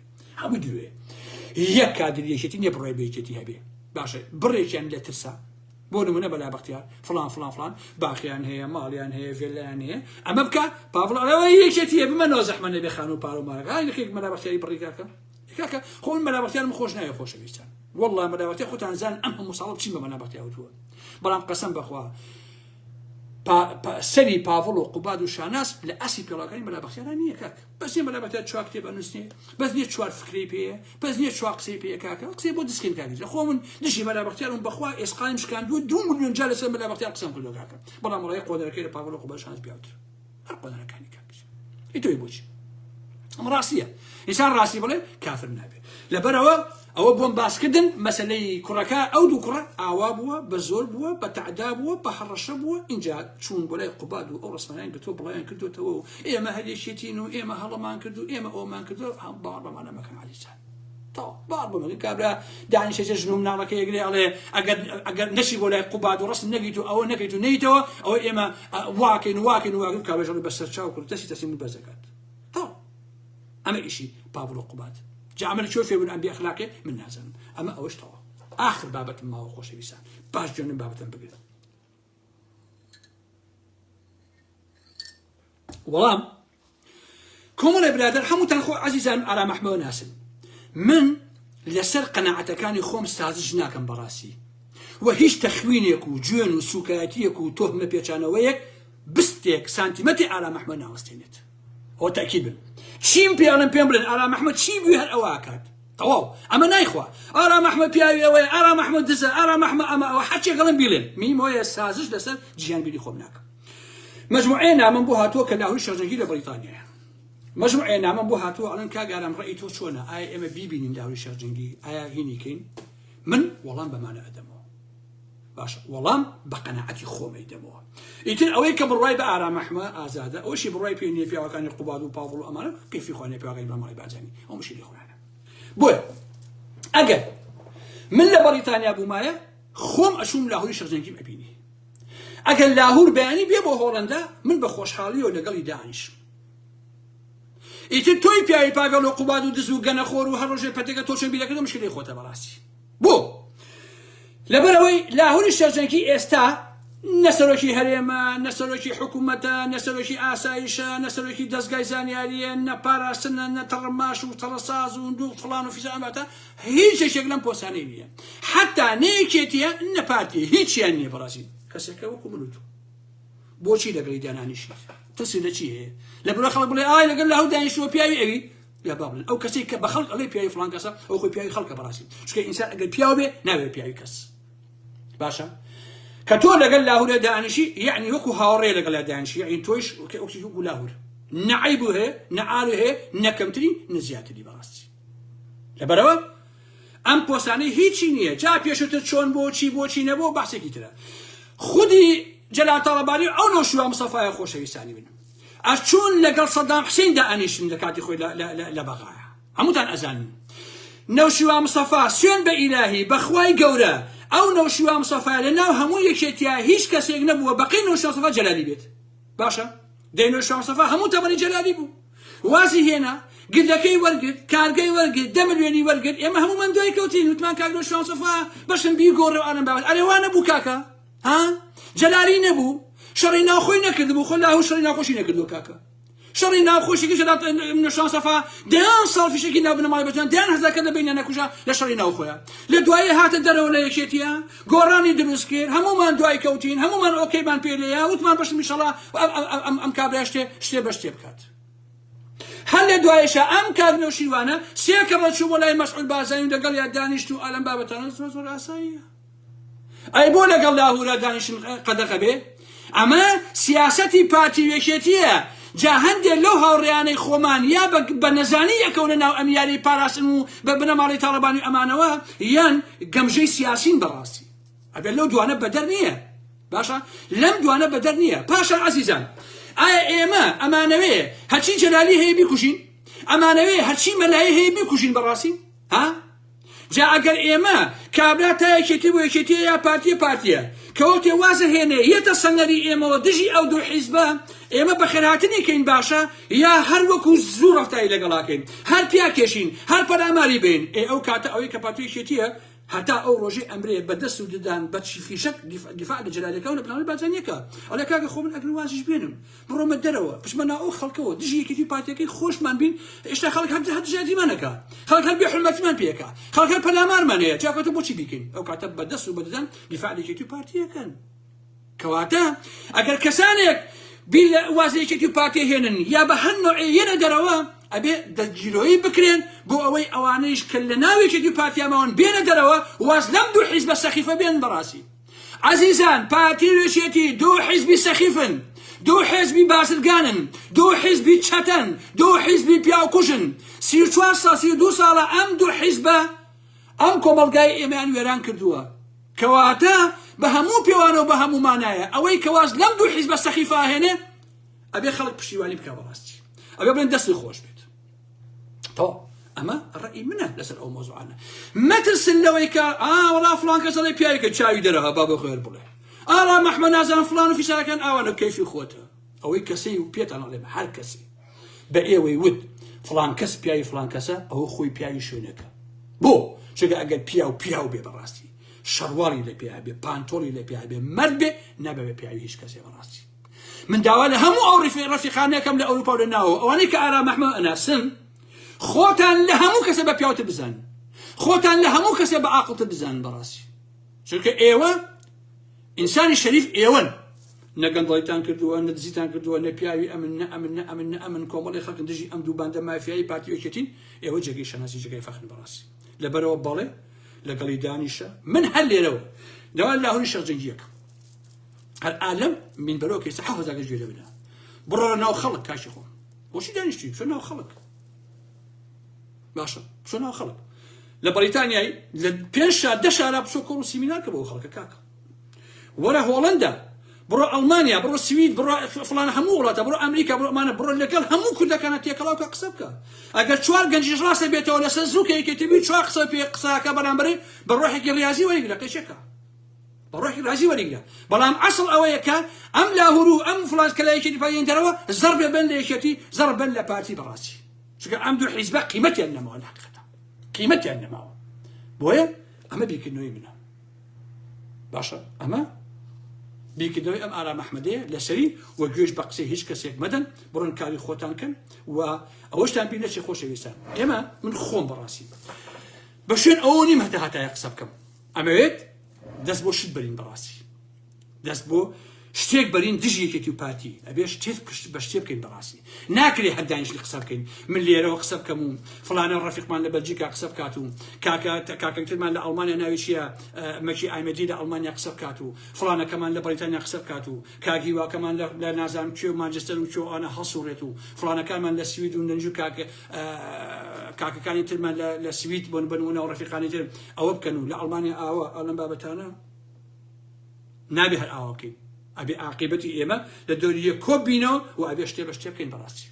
هەموو دوێ یەک کادری یەکێتی نیە بڕای بە یەکێتی هەبێ باشە بڕێکیان لە ترسە بۆ نمونە بەلا بەختیار فلان فلان فلان باخیان هەیە ماڵیان هەیە ڤێلایان هەیە ئەمە بکە پاڤڵەوە یەکێتیە بمە نازەحمە نەبێ خانوو پارە و مارەکان یەکێک مەلا بەختیاری بڕیکاکە کاکە خۆن مەلا بەختیارم خۆش نایە خۆشەویستان والله مەلا بەختیار خۆتان زان ئەم هەموو ساڵ چی بە مەلا بەختیار وتووە بەڵام قەسەم بەخوا سەری پاڤڵ و قوباد و شاناس لە ئەسی پێڵاکانی مەلا بەختیاران نییە کاک بەس نیە مەلا مەتەر چوار کتێب ئەنووسێ بەس نیە چوار فکرەی پێیە بەس نیە چوار قسەی پێیە کاکە ئەو قسەی بۆ دەستکەین کاکە جا خۆ من دژی مەلا بەختیارم بەخوا ئێسقانم شکاندووە دوو ملیۆن جار لەسەر مەلا بەختیار قسەم کردووە کاکە بەڵام ڕێ قۆدەرەکەی لە پاڤڵۆ قوبەشانس پیاوتر هەر قۆدەرەکانی کاکە ئیتۆی بۆچی ئەم ڕاستیە ئینسان ڕاستی بڵێ کافر نابێت لەبەرەوە ئەوە بۆم باسکردن مەسەلەی کوڕەکە ئەو دوو کوڕە ئاوا بووە بە زۆر بووە بە تەعدا بووە بە هەڕەشە بووە ئینجا چوون بۆ لای قوباد و ئەو ڕسمانیان گرتووە بڵاویان کردوێتەوە و ئێمە هەر یەکێتین و ئێمە هەڵەمان کرد و ئێمە ئەومان کردو هەم باوەڕ بەمانە مەکەن عەلیجان تەواو باوەڕ بەمەکە کابرا دانیشە جێ ژن و مناڵەکە یەکرێ ئەڵێ ئەگەر ئەگەر نەچی بۆ لای قوباد و ڕسم نەگیت و ئەوە نەکەیت و نەیتەوە ئەوە ئێمە واکەین و واکەین و واکەین کابرا ژەڵی بەسەر چاو کرد دەستی تەسلیم بەرز دەکات تەواو ئەمە ئیشی پاڤڵو قوباد جا ئەمە لە کوێ فێر بوون ئەم بێ ئەخلاقێ من نازانم ئەمە ئەوەش تەوا ئاخر بابەتم ماوە خۆشەویستان باش جوێنم بابەتم بگرن وەڵام کۆمەڵێ برادر هەمووتان خۆ عزیزان ئارام ئەحمەوە ناسن من لەسەر قەنەعەتەکانی خۆم سازش ناکەم بەڕاستی و هیچ تەخوینێک و جوێن و سوکایەتیەک و تۆهمە پێچانەوەیەک بستێک سانتیمەتی ئارام ئەحمە ناوەستێنێت ئەوە تەئکید بن چیم پێ ئەڵێن پێم بڵێن ئارام ئەحمەد چی بوی هەر ئەوە ئەکات تەواو ئەمە نایخوا ئارام ئەحمەد پیاوی ئەوەیە ئارام ئەحمەد دزە ئارام ئەحمە ئەمە ئەوە هەرچێک ئەڵێن بیڵێن میم هۆیە سازش لەسەر جیان بیری خۆم ناکەم مجموعەیە نامەم بۆ هاتووە کە لاهوری شەرجەنگی لە بەریتانیایە مجموعەیە نامەم بۆ هاتووە ئەڵەن کاگارام ڕێی تۆ چۆنە ئایا ئێمە بیبینین لاهوری شەرجەنگی ئایا هینیکەین من وەڵام بەمانە ئەدەمەوە باشە وەڵام بە قەناعەتی خۆم ئەیدەمەوە ئیتر ئەوەی کە بڕوای بە ئارام ئەحمە ئازادە ئەوشی بڕای پێ نیە پیاوەکانی قوباد و پاڤڵ و ئەمانە کەیفی خۆیان لە پیاوەکانی مامەڵی بارزانی ئەوشی لە خۆیانە بۆیە ئەگەر من لە بەڕیتانیا بوومایە خۆم ئەچووم لاهوری شەرجەنگیم ئەبینی ئەگەر لاهور بەیانی بێ بۆ هۆڵندا من بە خۆشحاڵی و لەگەڵی دانیش ئیتر تۆی پیاوی پاگەڵ و قوباد و دز و گەنەخۆر و هەر ڕۆژێ پەتەکە تۆ چەند بیرەکردە مشکلی خۆتە بەڕاستی بۆ؟ لەبەرئەوەی لاهوری شێرجەنکی ئێستا نە سەرۆکی هەرێمە، نە سەرۆکی حکوومەتە، نە سەرۆکی ئاسایشە، نە سەرۆکی دەزگای زانیارییە، نە پاراستنە، نە تەڕماش و تەڕساز و نوو فڵان و فیسان، واتە هیچ یەکێک لەم پۆستانەی نییە. حەتتا نە یەکێتییە، نە پارتییە، هیچیان نییە بەڕاستی. کەسێکە وەکو من و تۆ. بۆچی لەگەڵی دانانیشیت؟ ترسی لە چی هەیە؟ لە برۆی خەڵک بڵێ ئای لەگەڵ لاهور دانیشتووە پیاوی ئەوی؟ یا بابل ئەو کەسەی کە بە خەڵک ئەڵێ پیاوی فڵان کەسە ئەو خۆی پیاوی خەڵکە بەڕاستی چونکە ئینسان ئەگەر پیاو بێ ناوێ پیاوی کەس باشە کە تۆ لەگەل لاهورە دانیشی یعنی وەکو هاوڕێ لەگەڵ دانیشی یعنی تۆیش کە ئەوکیش وەکو لاهور نەعیب هەیە نەعال هەیە نەکەمتری نەزیاتری بەڕاستی لەبەرەوە ئەم پۆسانەی هیچی نییە جا پێشتر چۆن بۆ چی بۆچی نەبوو بەسێکی ترە خودی جەلاتەڵەباری ئەو نۆشوە مسەفاە خۆشەویستانی بن ئەچوون لەگەڵ سەدام حسین دائەنیشتن لە کاتی خۆی لە بەغایە هەمووتان ئەزانن نەوشیوا مستەفا سوێن بە ئیلاهی بەخوای گەورە ئەو نەوشیوا مستەفا لە ناو هەموو یەکێتیا هیچ کەسێک نەبووە بەقەی نەوشیوا مستەفا جەلالی بێت باشە دەی نەوشیوا مستەفا هەموو تەمەنی جەلالی بوو وازی هێنا گردەکەی وەرگرت کارگەی وەرگرت دە ملیۆنی وەرگرت ئێمە هەموومان دوای کەوتین وتمان کاک نەوشیوا مستەفا بەشم بیگۆڕێ و ئەنەم باوەت ئەرێ وا نەبوو کاکە ها جەلالی نەبوو شەڕی ناوخۆی نەکردبوو خۆ لاهور شەڕی ناوخۆشی نەکردووە کاکە شەڕی ناوخۆشی کە جەلات منە شانسەفا دەیان ساڵ فیشەکی لا بنەماڵی بەجان دەیان هەزارکە لە بینە نەکوژە لە شەڕی ناوخۆیە لە دوایی هاتە دەرەوە لە یەکێتیە گۆڕانی دروست کرد هەمومان دوای کەوتین هەمومان ئۆکەیمان پێ لێە وتمان بەشم میشەڵا ئەم کابرای شتێ شتێ بە شتێ بکات هەر لە دوایشە ئەم کاک نەوشیروانە سێ کەمە چوو بۆ لای مەسعود بازانی لەگەڵ یا دانیشت و ئالم بابەتانە زۆر زۆر ئاساییە ئەی بۆ لەگەڵ لاهورا دانیشن قەدەغە بێ ئەمە سیاسەتی پارتی وێکێتیە جا هەندێک لەو هاوڕێیانەی خۆمان یا بە نەزانی یەکەونە ناو ئەم یاری پاراستن و بە بنەماڵی تاڵەبانی ئەمانەوە یان گەمژەی سیاسین بەڕاستی ئەبێت لەو دوانە بەدەر نییە باشە لەم دوانە بەدەر نییە پاشان عزیزان ئایا ئێمە ئەمانەوێ هەچی جەلالی هەیە بیکوژین ئەمانەوێ هەچی مەلای هەیە بیکوژین بەڕاستی ها جا ئەگەر ئێمە کابرا تا یەکێتی بۆ یەکێتیە یا پارتیە پارتیە کەوتێ وازە هێنێ یەتە سەنگەری ئێمەوە دژی ئەو دوو حیزبە ئێمە بەخێرهاتنی کەین باشە یا هەر وەکو زوو ڕفتاری لەگەڵاکەین هەر پیا کێشین هەر پەلاماری بین ئێ ئەو کاتە ئەوەی کە پارتی یەکێتیە هەتا ئەو ڕۆژەی ئەمرێ بە دەست و ددان بە چی فیشەک دیفاع لە جەلالەکە و لە پلانەوەی بارزانیەکە ئەڵێ کاکە خۆ من ئەگەر وازیش بێنم بڕۆمە دەرەوە بچمە ناو ئەو خەڵکەوە دژی یەکێتی و پارتیەکەی خۆشمان بین هێشتا خەڵک هەر هەر دژایەتیمان نەکا خەڵک هەر بێ حرمەتیمان پێکا خەڵک هەر پەلامارمان هەیە جاکەتە بۆچی بیکەین ئەو کاتە بەدەست و بەدەدەن دیفاع لە یەکێتی و پارتیەکەن کەواتە ئەگەر کەسانێک بیر لە وازی یەکێتی و پارتی هێنن یا بە هەر نوعێ یەنە دەرەوە ئەبێ دەستگیرۆیی بکرێن بۆ ئەوەی ئەوانەیش کە لە ناوێکێتی پارتیاماون بێنە دەرەوە واز لەم دوو حیزبە سەخیفە بێن بەڕاستی ئەزیزان پارتی و یەکێتی دوو حیزبی سەخیفن دوو حێزبی بازرگانن دوو حیزبی چەتەن دوو حیزبی پیاو کوژن سی و چوار سا سی و دوو ساڵە ئەم دوو حیزبە ئەم کۆمەڵگای ئێمەیان وێران کردووە کەواتە بە هەموو پێوانە و بە هەموو مانایە ئەوەی کەواز لەم دوو حیزبە سەخیفە هێنێ ئەبێ خەڵک پشتیوانی بکە بەڕاستی ئەبێ بڵێن دەستی خۆش بێت تەواو ئەمە ڕەئی منە لەسەر ئەو مۆزوعانە مەترسن لەوەی کە ئا وەڵا فڵان کەس دەڵێ پیاوێکە چاوی دەرەها با بۆ خێر بڵێ ئاڵا مەحمە نازان فڵان و فیسارەکان ئاوانە کەیفی خۆتە ئەوەی کەسەی و پێتان ئەڵێم هەر کەسی بە ئێوەی وت فڵان کەس پیاوی فڵان کەسە ئەوە خۆی پیاوی شوێنەکە بۆ چگە ئەگەر پیاو پیاو بێ بەڕاستی شەڕواڵی لە پێیا بێ پانتۆڵی لە پێیا بێ مەرد بێ نابێ بە پیاوی هیچ کەسێ بەڕاستی من داوا لە هەموو ئەو ڕیفی ڕەفیقانەکەم لە ئەوروپا و لە ناوەوە ئەوانەی کە ئارام ئەحمەد ئەناسن خۆتان لە هەموو کەسە بە پیاوتر بزانن خۆتان لە هەموو کەسە بە عاقڵتر بزانن بەڕاستی چونکە ئێوە ئینسانی شەریف ئێوەن نە گەندڵیتان کردووە نە دزیتان کردووە نە پیاوی ئەمن نە ئەمن نە ئەمن نە ئەمن کۆمەڵی خەڵک دژی ئەم دوو باندە مافیایی پارتی یەکێتین ئێوە جێگەی شەناسی جێگەی فەخن بەڕاستی لەبەرەوە بەڵێ لەگەڵی دانیشە من هەر لێرەوە داوا لاهوری شەرجەنگیەکە هەر ئالم من بەرەو کەسە حە هەزار گەش گوێ بدا بڕۆ ناو خەڵک کاشی خۆم بۆچی دانیشتی چۆن ناو خەڵک باشە چۆن ناو خەڵک لە بەریتانیای لە پێنج شار دە شارا بچۆ کۆڵ و سیمینارکە بۆ خەڵکە کاکە وەرە هۆڵندا بڕۆ ئەڵمانیا بڕۆ سوید بڕۆ فلان هەموو وڵاتە بڕۆ ئەمریکا بڕۆ ئەمانە بڕۆ لەگەڵ هەموو کوردەکانە تێکەڵاو کە قسە بکە ئەگەر چوار گەنجیش ڕاستە بێتەوە لەسەر زووکەیەکێتی بی چوار قسە پێ قساکە بەرامبەر بە ڕۆحێکی ڕاضی وەیگرە قەشەکە بەڕۆحی ڕازی وەریگرە بەڵام ئەسڵ ئەوەیە کە ئەم لاهورو ئەم فلان کە لایەکێتی پایێنتەرەوە زەڕ بێ بەن لە یەکێتی زەڕ بەن لە پارتی بەڕاستی چونکە ئەم دوو حیزبە قیمەتیان نەماوە لە حقیقەتە قیمەتیان نەماوە بۆیە ئەمە بیرکردنەوەی منە باشە ئەمە بیکردەوەی ئەم ئارا مححمدەیە لەسەری و گوێش بە قسەی هیچ کەسێک مەدەن بڕن کاری خۆتان کەن و ئەوەشتان بیر نەچی خۆشەویستان ئێمە من خۆم بەڕاستی بە شوێن ئەوە نیم هەتا هاتایە قسە بکەم ئەمەوێت دەست بۆ شت بەرین بەڕاستی دەست بۆ شتێک بەرین دژ یەکێتی و پارتی ئەبێ شتێت پشت بە شتێ بکەین بەڕاستی ناکرێ هەردانیشتی قسە بکەین من لێرەوە قسە بکەم و فلانە ڕفیقمان لە بەلجیکا قسە بکات و کاکە کاکەکترمان لە ئەڵمانیا ناوێکیە مەکی ئایمەدی لە ئەڵمانیا قسە بکات و فلانەکەمان لە بەریتانیا قسە بکات و کاک هیوا کەمان لە لە نازانم کوێ و مانجستەر و کوێ و ئانە هەڵسووڕێت و فڵانەکانمان لە سوید و نەنج و کاک ئە کاکەکانی ترمان لە لە سوید بۆن بن و ناو ڕەفیقانی تر ئەوە بکەن و لە ئەڵمانیا ئاوا ئەو لەم بابەتانە نابێ هەر ئاوا بکەین ئەبێ عاقیبەتی ئێمە لە دەوری یەک کۆ بینەوە و ئەبێ شتێ بە شتێ بکەین بەڕاستی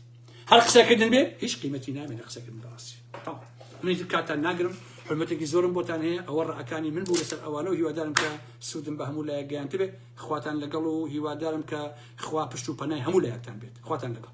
هەر قسەکردن بێ هیچ قیمەتی نامێ لە قسەکردن بەڕاستی تەواو. منی تر کاتان ناگرم حرمەتێکی زۆرم بۆتان هەیە ئەوە ڕەکانی من بوو لەسەر ئەوانە و هیوادارم کە سوودم بە هەموو لایەک گەیاندبێ خواتان لەگەڵ و هیوادارم کە خوا پشت و پەنای هەموو لایەکتان بێت خواتان لەگەڵ.